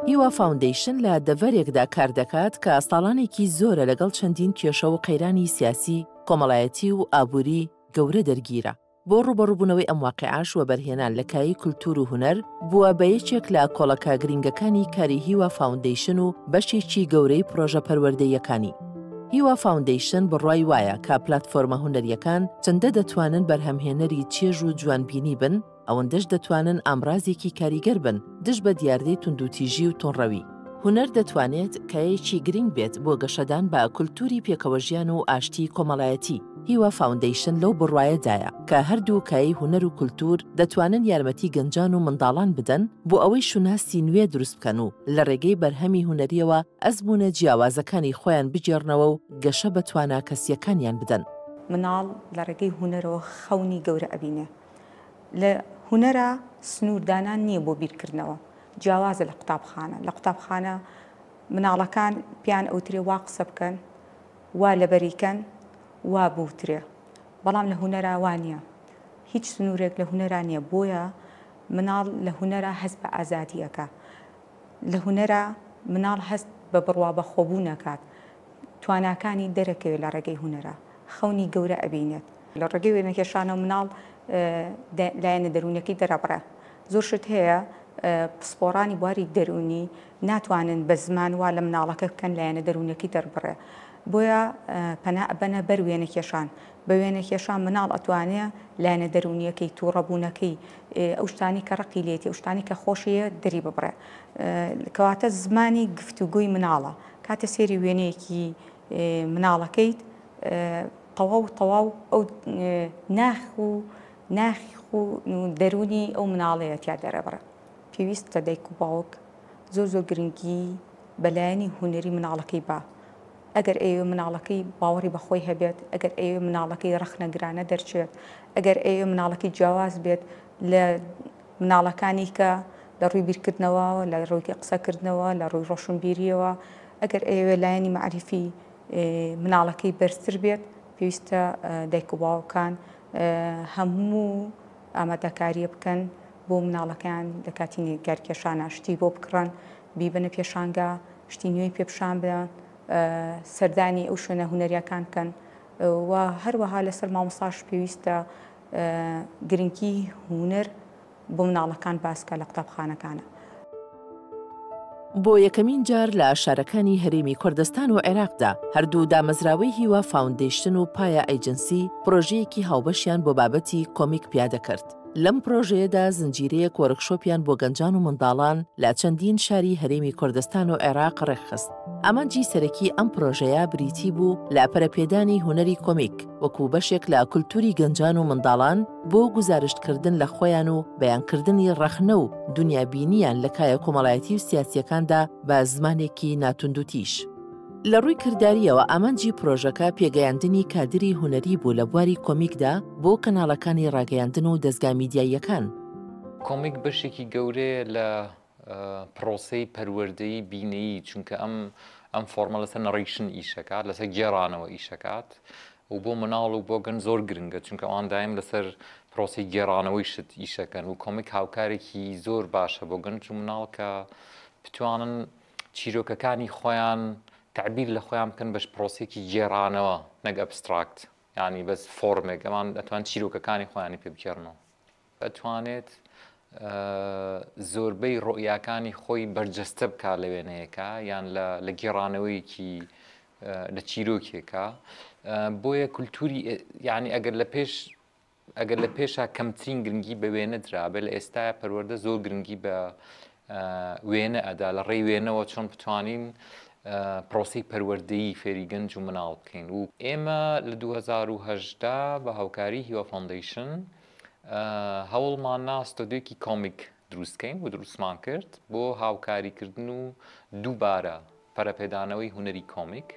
هیوا فاوندەیشن لە دەڤەرێکدا کار دەکات کە ساڵانێکی زۆرە لەگەڵ چەندین کێشە و قەیرانی سیاسی کۆمەڵایەتی و ئابووری گەورە دەرگیرە بۆ ڕووبەڕووبوونەوەی ئەم واقیعەش وەبەرهێنان لە کایەی کولتوور و هونەر، بووە بە یەکێک لە کۆڵەکە گرینگەکانی کاری هیوا فاوندەیشن و بەشێکی گەورەی پڕۆژە پەروەردەییەکانی. هیوا فاوندەیشن بڕوای وایە کە پلاتفۆرمە هونەرییەکان چەندە دەتوانن بەرهەمهێنەری چێژ و جوانبینی بن، ئەوەندەش دەتوانن ئامڕازێکی کاریگەر بن، دژ بە دیاردەی توندوتیژی و توڕەوی. هونەر دەتوانێت کایەیەکی گرنگ بێت بۆ گەشەدان بە کولتووری پێکەوەژیان و ئاشتیی کۆمەڵایەتی. هیوا فاوندەیشن لەو بڕوایەدایە کە هەردوو کایەی هونەر و کولتوور دەتوانن یارمەتی گەنجان و منداڵان بدەن بۆ ئەوەی شوناسی نوێ دروست بکەن و لە ڕێگەی بەرهەمی هونەرییەوە ئەزموونە جیاوازەکانی خۆیان بگێڕنەوە و گەشە بە توانا کەسییەکانیان بدەن. مناڵ لە ڕێگەی هونەرەوە خەونی گەورە ئەبینێ. لە هونەرا سنووردانان نییە بۆ بیرکردنەوە، جیاوازە لە قوتابخانە. لە قوتابخانە مناڵەکان پێیان ئەوترێ وا قسە بکەن، وا لەبەری کەن، وا بوترێ. بەڵام لە هونەرا وا نییە. هیچ سنوورێک لە هونەرا نییە. بۆیە مناڵ لە هونەرا هەست بە ئازادی ئەکا. لە هونەرا مناڵ هەست بە بڕوا بەخۆبوون ئەکات. تواناکانی دەرەکەوێ لە ڕێگەی هونەرە خەونی گەورە ئەبینێت. لە ڕێگەی وێنەکێشانەوە مناڵ لایەنە دەروونیەکەی دەرەبڕێ. زۆر شت هەیە پسپۆڕانی بواری دەروونی ناتوانن بە زمان وا لە مناڵەکە بکەن لایەنە دەروونیەکەی دەربڕێ بۆیە پەنا ئەبەنە بەر وێنەکێشان. بە وێنەکێشان مناڵ ئەتوانێ لایەنە دەروونیەکەی، توڕەبوونەکەی، ئەو شتانەی کە ڕقی لێتی، ئەو شتانەی کە خۆشی دەری ببڕێ. کەواتە زمانی گفتوگۆی مناڵە کاتێ سێری وێنەیەکی مناڵەکەیت تەواو تەواو ئەو ناخ و ناخی خو دەرونی ئەو مناڵەیە تیا دەرەبڕ پێویستە دایک و باوک زۆر زۆر گرنگی بەلایەنی هوەری مناڵەکەی با ئەگەر ئەوێ مناڵەکەی باوەڕی بەخۆی هەبێت ئەگەر ئەوێ مناڵەکەی ڕخنەگرانە دەرچێت ئەگەر ئەوێ مناڵەکەی جیاواز بێت لە مناڵەکانی کە لە ڕووی بیرکردنەوە، لە ڕووی قسەکردنەوە، لە ڕووی ڕۆشنبیرییەوە ئەگەر ئەیەوێت لایەنی مەعریفی مناڵەکەی بەرزتر بێت پێویستە دایک و باوکان هەموو ئامادەکارییە بکەن بۆ مناڵەکەیان لە کاتی نیگارکێشانە شتی بۆ بکڕن، بیبەنە پێشانگا، شتی نوێی پێ پیشان بدەن، سەردانی ئەو شوێنە هونەرییەکان بکەن و هەروەها لەسەر مامۆستاش پێویستە گرنگی هونەر بۆ مناڵەکان باسکە لە قوتابخانەکانا. بۆ یەکەمین جار لە شارەکانی هەرێمی کوردستان و عێراقدا، هەردوو دامەزراوەی هیوا فاوندەیشن و پایا ئەیجنسی پرۆژەیەکی هاوبەشیان بۆ بابەتی کۆمیک پیادە کرد. لەم پرۆژەیەدا زنجیرەیەک وۆرکشۆپیان بۆ گەنجان و منداڵان لە چەندین شاری هەرێمی کوردستان و عێراق ڕێکخست. ئامانجی سەرەکی ئەم پرۆژەیە بریتی بوو لە پەرەپێدانی هونەری کۆمیک. وەکو بەشێک لە کولتوری گەنجان و منداڵان بۆ گوزارشت کردن لە خۆیان و بەیان کردنی ڕەخنە و دونیا بینیان لە کایە کۆمەڵایەتی و سیاسیەکاندا بە زمانێکی ناتوندوتیژ. لە ڕووی کرداریەوە ئامانجی پرۆژەکە پێگەیاندنی کادری هونەری بوو لە بواری کۆمیکدا بۆ کەناڵەکانی ڕاگەیاندن و دەزگا میدیاییەکان. کۆمیک بەشێکی گەورەیە لە پڕۆسەی پەروەردەی بینەیی چونکە ئەم ئەم فۆرمە لەسەر نەڕیشن ئیشەکات لەسەر گێڕانەوە ئیشەکات و بۆ مناڵ و بۆ گەن زۆر گرنگە چونکە ئەوان دایم لەسەر پرۆسی گێڕانەوەی شت ئیشەکەن و کۆمیک هاوکارێکی زۆر باشە بۆ گەنج و مناڵ کە بتوانن چیرۆکەکانی خۆیان تعبیر لە خۆیان بکەن بەش پرۆسێکی گێڕانەوە نەک ئەبستراکت ینی بەس فۆرمێک ئەمان ئەتوان چیرۆکەکانی خۆیانی پێ بکێڕنەوە ئەتوانێت زۆربەی ڕۆیاکانی خۆی بەرجەستە بکا لە وێنەیەکە یان لە گێڕانەوەیەکی لە چیرۆکێکە بۆیە کولتوری یعنی ئەگەر لە پێش ئەگەر لە پێشا کەمترین گرنگی بە وێنە درابێت لە ئێستا پەروەەردە زۆر گرنگی بە وێنە ئەدا لە ڕێی وێنەوە چۆن بتوانین پرۆسی پەروەردەی فێری گەنج و مناڵ بکەین و ئێمە لە 2010 بە هاوکاری هیوا فۆندیشن هەوڵماننا ستۆدیۆیەکی کۆمیک دروستکەین و دروستمان کرد بۆ هاوکاریکردن و دووبارە پەرەپێدانەوەی هونەری کۆمیک.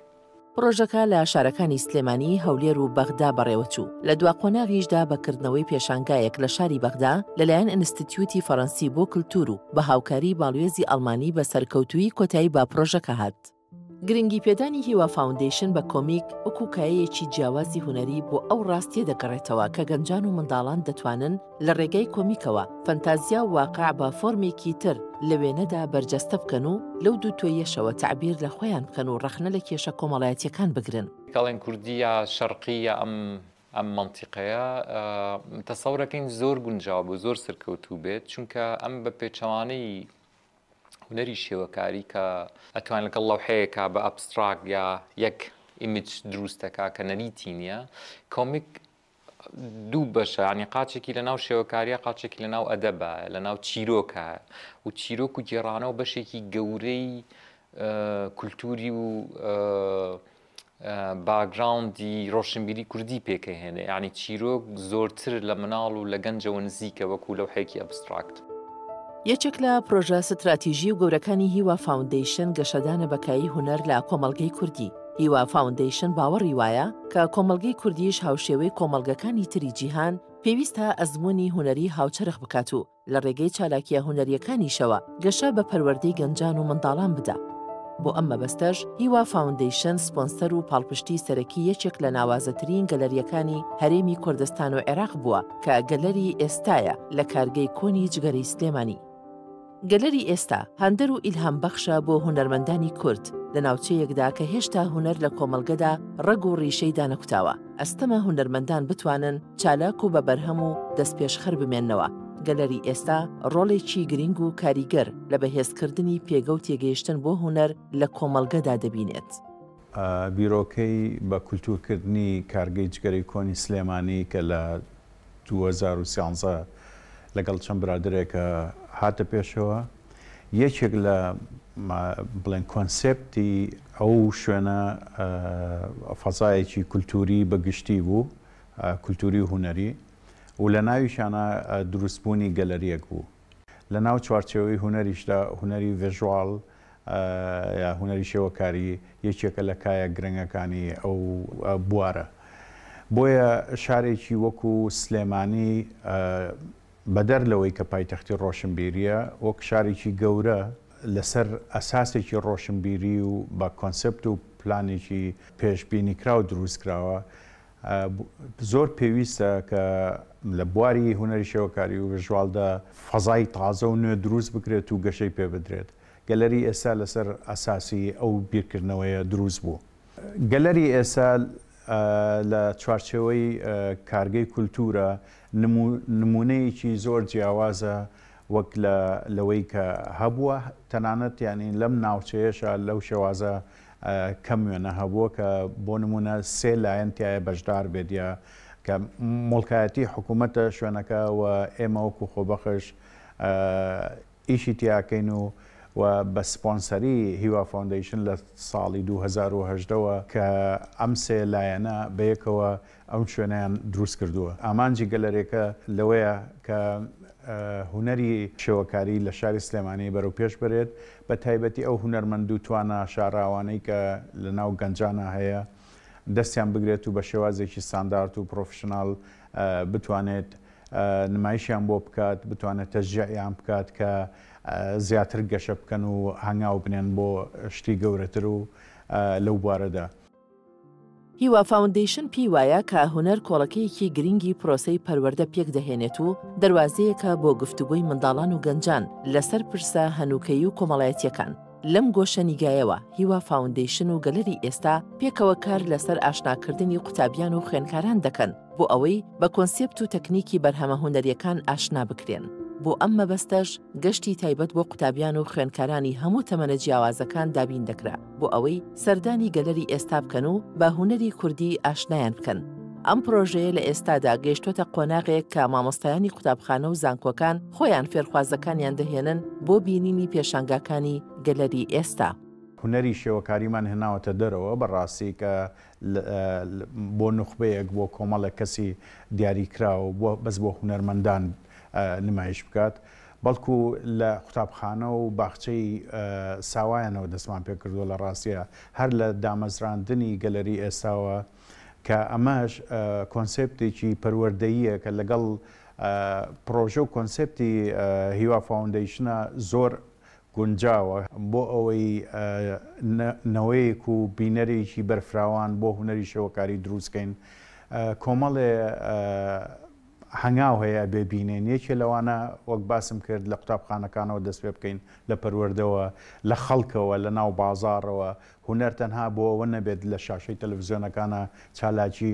پڕۆژەکە لە شارەکانی سلێمانی، هەولێر و بەغدا بەڕێوەچوو، لە دوا قۆناغیشدا بە کردنەوەی پێشانگایەک لە شاری بەغدا لەلایەن ئینستتیوتی فەرەنسی بۆ کلتوور و بە هاوکاری باڵوێزی ئەڵمانی بە سەرکەوتوویی کۆتایی بە پڕۆژەکە هات. گرنگیپێدانی هیوا فاوندەیشن بە کۆمیک وەکو کایەیەکی جیاوازی هونەری بۆ ئەو ڕاستیە دەگەڕێتەوە کە گەنجان و منداڵان دەتوانن لە ڕێگای کۆمیکەوە فەنتازیا و واقع بە فۆرمێکی تر لە وێنەدا بەرجەستە بکەن و لەو دووتۆیەشەوە تەعبیر لە خۆیان بکەن و ڕەخنە لە کێشە کۆمەڵایەتیەکان بگرن. کەڵێن کوردی یا شەرقی یا ئەم ئەم مەنتیقەیە تەسەورەکەین زۆر گونجاو بوو زۆر سەرکەوتوو بێت چونکە ئەم بە پێچەوانەی هونەری شێوەکاری کە ئەتوان لەگەڵ لەوحەیەکا بە ئەبستراک یا یەک ئیمج دروستەکە کە نەریتی نییە کۆمیک دوو بەشە ینی قاچێکی لە ناو شێوەکاریە قاچێکی لە ناو ئەدەبە لە ناو چیرۆکە و چیرۆک و گێڕانەوە بەشێکی گەورەی کولتوری و باکگراوندی ڕۆشنبیری کوردی پێکەهێنێ یعنی چیرۆک زۆرتر لە مناڵ و لە گەنجەوە نزیکە وەکو لەوحەیەکی ئەبستراکت. یەکێک لە پرۆژە ستراتیژی و گەورەکانی هیوا فاوندەیشن گەشەدانە بە کایی هونەر لە کۆمەڵگەی کوردی. هیوا فاوندەیشن باوەڕی وایە کە کۆمەڵگەی کوردیش هاوشێوەی کۆمەڵگەکانی تری جیهان پێویستە ئەزموونی هونەری هاوچەرخ بکات و لە ڕێگەی چالاکیە هونەریەکانیشەوە گەشە بە پەروەردەی گەنجان و منداڵان بدا. بۆ ئەم مەبەستەش هیوا فاوندەیشن سپۆنسەر و پاڵپشتی سەرەکی یەکێک لە ناوازەترین گەلەریەکانی هەرێمی کوردستان و عێراق بووە کە گەلەری ئێستایە لە کارگەی کۆنی جگەرەی سلێمانی. گەلەری ئێستا هاندەر و ئیلهام بەخشە بۆ هونەرمەندانی کورد لە ناوچەیەکدا کە هێشتا هونەر لە کۆمەڵگەدا ڕەگ و ڕیشەی دانەکوتاوە، ئەستەمە هونەرمەندان بتوانن، چالاک و بە بەرهەم و دەستپێشخەر بمێننەوە، گەلەری ئێستا ڕۆڵێکی گرینگ و کاریگەر لە بەهێزکردنی پێگە و تێگەیشتن بۆ هونەر لە کۆمەڵگەدا دەبینێت. بیرۆکەی بە کولتوورکردنی کارگەی جگەرەی کۆنی سلێمانی کە لە دوو هەزار و سیانزە لەگەڵ چەند برادەرێکە هاتە پێشەوە، یەکێک لە بڵێن کۆنسێپتی ئەو شوێنە فەزایەکی کولتووری بە گشتی بوو، کولتووری و هونەری و لە ناویشانا دروستبوونی گەلەرییەک بوو. لە ناو چوارچێوەی هونەریشدا، هونەری ڤێژواڵ یا هونەری شێوەکاری یەکێکە لە کایە گرنگەکانی ئەو بوارە. بۆیە شارێکی وەکو سلێمانی بەدەر لەوەی کە پایتەختی ڕۆشنبیرییە، وەک شارێکی گەورە لەسەر ئەساسێکی ڕۆشنبیری و بە کۆنسێپت و پلانێکی پێشبینیکراو دروستکراوە، زۆر پێویستە کە لە بواری هونەری شێوەکاری و ڤژواڵدا فەزای تازە و نوێ دروست بکرێت و گەشەی پێ بدرێت. گەلەری ئێستا لەسەر ئەساسی ئەو بیرکردنەوەیە دروست بوو. گەلەری ئێستا لە چوارچێوەی کارگەی کولتوورە، نموونەیەکی زۆر جیاوازە وەک لەوەی کە هەبووە، تەنانەت یانی لەم ناوچەیەشا لەو شێوازە، کەم وێنە هەبووە کە بۆ نموونە سێ لایەن تایە بەشدار بێت یا کە مڵکایەتی حکوومەتە شوێنەکە و ئێمە وەکو خۆبەخش ئیشی تیاکەین و و بە سپۆنسەری هیوا فۆندەیشن لە ساڵی 2010ەوە کە ئەم سێ لایەنە بەیەکەوە ئەم شوێنەیان دروست کردووە. ئامانجی گەلەرێکە لەوەیە کە هونەری شێوەکاری لە شاری سلێمانی بەرەو پێش بەرێت، بە تایبەتی ئەو هونەرمەند و توانا شاراوانەی کە لە ناو گەنجانا هەیە دەستیان بگرێت و بە شێوازێکی ستاندارد و پرۆفیشنال بتوانێت نمایشیان بۆ بکات، بتوانێت تەشجیعیان بکات کە زیاتر گەشە بکەن و هەنگاو بنێن بۆ شتی گەورەتر و لەو بوارەدا. هیوا فاوندەیشن پێی وایە کە هونەر کۆڵەکەیەکی گرنگی پرۆسەی پەروەردە پێک دەهێنێت و دەروازەیەکە بۆ گفتوگۆی منداڵان و گەنجان لەسەر پرسە هەنووکەیی و کۆمەڵایەتییەکان. لەم گۆشە نیگایەوە، هیوا فاوندەیشن و گەلەری ئێستا پێکەوە کار لەسەر ئاشناکردنی قوتابیان و خوێندکاران دەکەن بۆ ئەوەی بە کۆنسێپت و تەکنیکی بەرهەمە هونەرییەکان ئاشنا بکرێن. بۆ ئەم مەبەستەش گەشتی تایبەت بۆ قوتابیان و خوێندکارانی هەموو تەمەنە جیاوازەکان دابین دەکرا. بۆ ئەوەی سەردانی گەلەری ئێستا بکەن و بە هونەری کوردی ئاشنایان بکەن. ئەم پرۆژەیە لە ئێستادا گەیشتوەتە قۆناغێک کە مامۆستایانی قوتابخانە و زانکۆکان خۆیان فێرخوازەکانیان دەهێنن بۆ بینینی پێشانگاکانی گەلەری ئێستا. هونەری شێوەکاریمان هێناوەتە دەرەوە بە ڕاستی کە بۆ نوخبەیەک بۆ کۆمەڵێک کەسی دیاریکراو بەس بۆ هونەرمەندان نمایش بکات. بەڵکو لە قوتابخانە و باخچەی ساوایانەوە دەستمان پێکردووە، لە ڕاستیدا هەر لە دامەزراندنی گەلەری ئێستاوە، کە ئەمەش کۆنسێپتێکی پەروەردەییە کە لەگەڵ پڕۆژە و کۆنسێپتی هیوا فاوندەیشنە زۆر گونجاوە، بۆ ئەوەی نەوەیەک و بینەرێکی بەرفراوان بۆ هونەری شێوەکاری دروست کەین، کۆمەڵێ. هەنگاو هەیە ئەبێ بینێن یەکێ لەوانە وەک باسم کرد لە قوتابخانەکانەوە دەست پێ بکەین لە پەروەردەوە لە خەڵکەوە لە ناو بازاڕەوە هونەر تەنها بۆ ئەوە نەبێت لە شاشەی تەلەفزیۆنەکانە چالاکی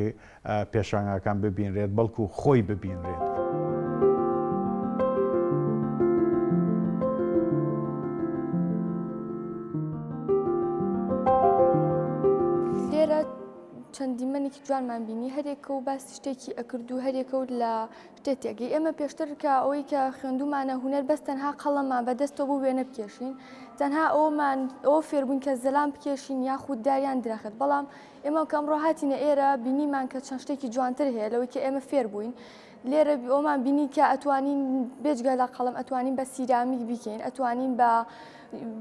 پێشانگاکان ببینرێت بەڵکو خۆی ببینرێت. جوانمان بینی هەریەکە و باسی شتێکی ئەکرد و هەریەکە و لە شتێ تێگەی ئێمە پێشتر کە ئەوەی کە خوێندومانە هونەر بەس تەنها قەڵەممان بە دەستەوە بۆ وێنە بکێشین تەنها ئەومان ئەوە فێربووین کە زەلام بکێشین یاخود داریان درەخت بەڵام ئێمە کە ئەمڕۆ هاتینە ئێرە بینیمان کە چەند شتێکی جوانتر هەیە لەوەی کە ئێمە فێر بووین لێرە ئەومان بینی کە ئەتوانین بێجگە لە قەڵم ئەتوانین بە سیرامیک بیکەین ئەتوانین بە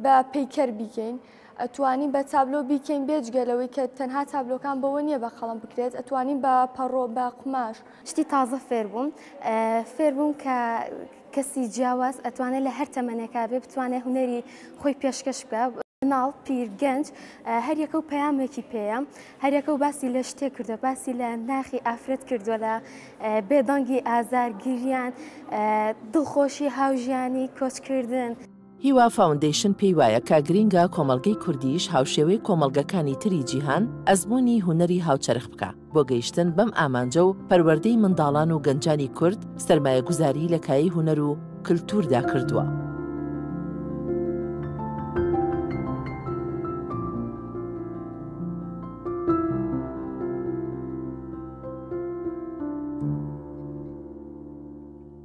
بە پیکەر بیکەین. ئەتوانین بە تابلۆ بیکەین بێجگە لەوەی کە تەنها تابلۆکان بەوە نییە بە قەڵەم بکرێت ئەتوانین بە پەڕۆ بە قوماش. شتی تازە فێر بووم فێر بووم کە کەسی جیاواز ئەتوانێت لە هەر تەمەنێکا بێ بتوانێت هونەری خۆی پێشکەش بکا مناڵ پیر گەنج هەر یەکە و پەیامێکی پێیە هەر یەکە و باسی لە شتێک کردوە باسی لە ناخی ئافرەت کردوە لە بێدەنگی ئازار گریان دڵخۆشی هاوژیانی کۆچکردن. هیوا فاوندەیشن پێی وایە کە گرینگە کۆمەڵگەی کوردییش هاوشێوەی کۆمەڵگەکانی تری جیهان ئەزموونی هونەری هاوچەرخ بکا بۆ گەیشتن بەم ئامانجە و پەروەردەی منداڵان و گەنجانی کورد سەرمایەگوزاریی لە کایەی هونەر و کلتووردا کردووە.